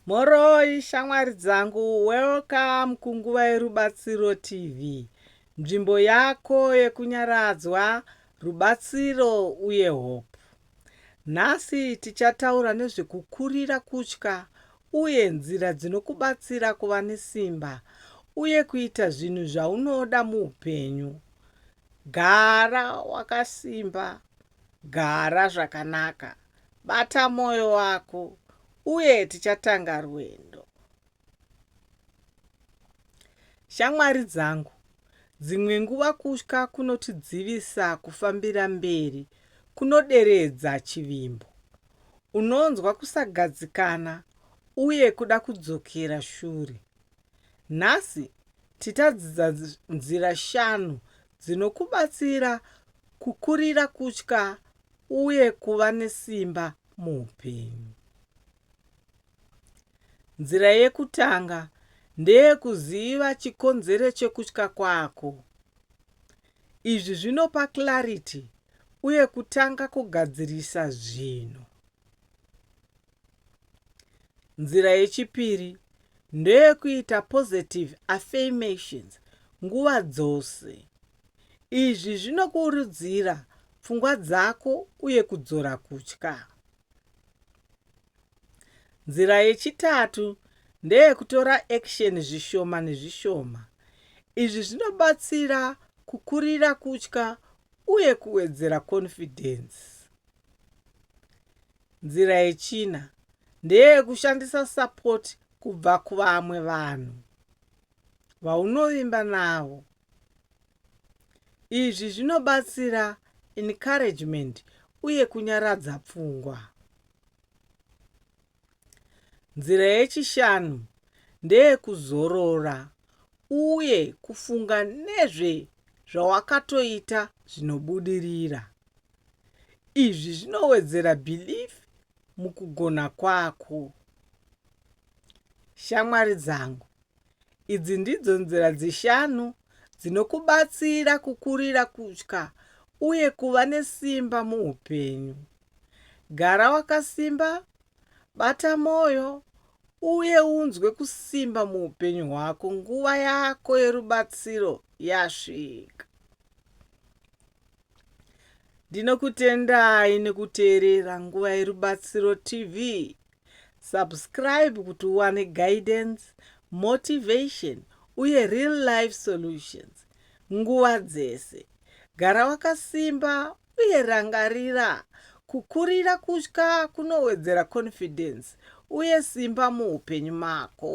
Mhoroi shamwari dzangu, welcome kunguva yerubatsiro TV, nzvimbo yako yekunyaradzwa, rubatsiro uye hope. Nhasi tichataura nezvekukurira kutya uye nzira dzinokubatsira kuva nesimba uye kuita zvinhu zvaunoda muupenyu. Gara wakasimba Gara zvakanaka, bata moyo wako uye tichatanga rwendo. Shamwari dzangu, dzimwe nguva kutya kunotidzivisa kufambira mberi kunoderedza chivimbo. Unonzwa kusagadzikana uye kuda kudzokera shure. Nhasi tichadzidza nzira shanu dzinokubatsira kukurira kutya uye kuva nesimba muupenyu. Nzira yekutanga ndeyekuziva chikonzero chekutya kwako. Izvi zvinopa clarity uye kutanga kugadzirisa zvinhu. Nzira yechipiri ndoyekuita positive affirmations nguva dzose. Izvi zvinokurudzira pfungwa dzako uye kudzora kutya. Nzira yechitatu ndeyekutora action zvishoma nezvishoma. Izvi zvinobatsira kukurira kutya uye kuwedzera confidence. Nzira yechina ndeyekushandisa sapoti kubva kuvamwe vanhu vaunovimba navo. Izvi zvinobatsira encouragement uye kunyaradza pfungwa. Nzira yechishanu ndeyekuzorora uye kufunga nezve zvawakatoita zvinobudirira. Izvi zvinowedzera belief mukugona kwako. Shamwari dzangu, idzi ndidzo nzira dzishanu dzinokubatsira kukurira kutya uye kuva nesimba muupenyu. Gara wakasimba Bata mwoyo uye unzwe kusimba muupenyu hwako. Nguva yako yerubatsiro yasvika. Ndinokutendai nekuteerera Nguva yerubatsiro TV. Subscribe kuti uwane guidance, motivation uye real life solutions nguva dzese. Gara wakasimba Uye rangarira, kukurira kutya kunowedzera confidence uye simba muupenyu mako.